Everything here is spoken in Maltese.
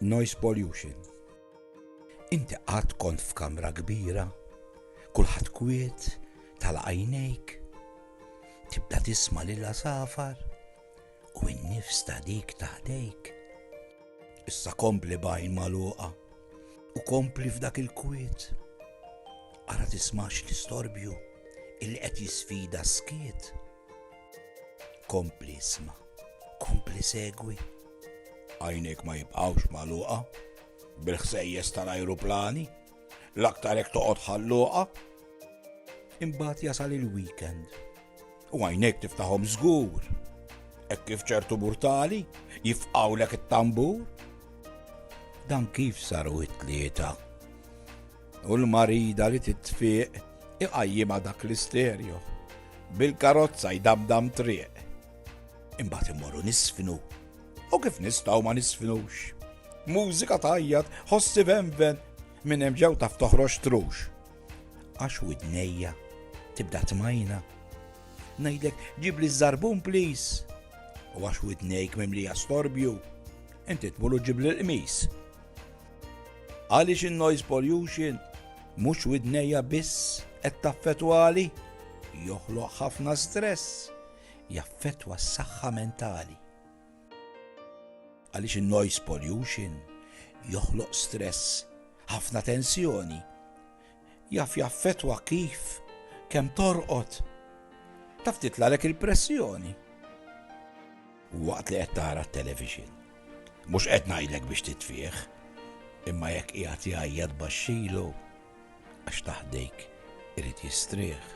Noise pollution. Inti qatt kont f'kamra kbira, kulħadd kwiet, tal-għajnejk, tibda tisma' lil safar u n-nifs ta' dik taħdejk. Issa kompli bajn maluqa U kompli f'dak il-kwiet. Ara tismax l-istorbju illi qed jisfida skiet. Kompli isma, kompli segwi. Għajnek ma jibqawx maluqa, bil-ħsejjes tal-ajruplani, l-aktar hekk toqgħod ħalluqa. Imbagħad jasal il-weekend U għajnejk tiftaħhom żgur. Hekk kif ċertu murtali jifqawlek it-tambur. Dan kif saru it-tlieta. U l-marida li titfiq iqajjima dak l-isterju. Bil-karozza jdamdam triq. Imbagħad immorru nisfnu. U kif nistgħu ma nisfnux? Mużika tajjat, ħossi venven, minn hemm ġew taf toħroġ trux. Għax widnejja tibda tmajna. Ngħidlek ġibli ż-żarbun please. U għax widnejk mimlija storbju, inti tmur u ġibli l-qmis. Għaliex in-noise pollution mhux widnejja biss qed taffetwali, joħloq ħafna stress, jaffetwa s-saħħa mentali. Għaliex in-noise pollution joħloq stress, ħafna tensjoni. Jaf jaffettwa kif, kemm torqod. Taf titlalek il-pressjoni. U waqt li qed tara t-television. Mhux qed ngħidlek biex titfih, imma jekk qiegħed jgħajjat baxxilu għax taħdejk irid jistrieħ.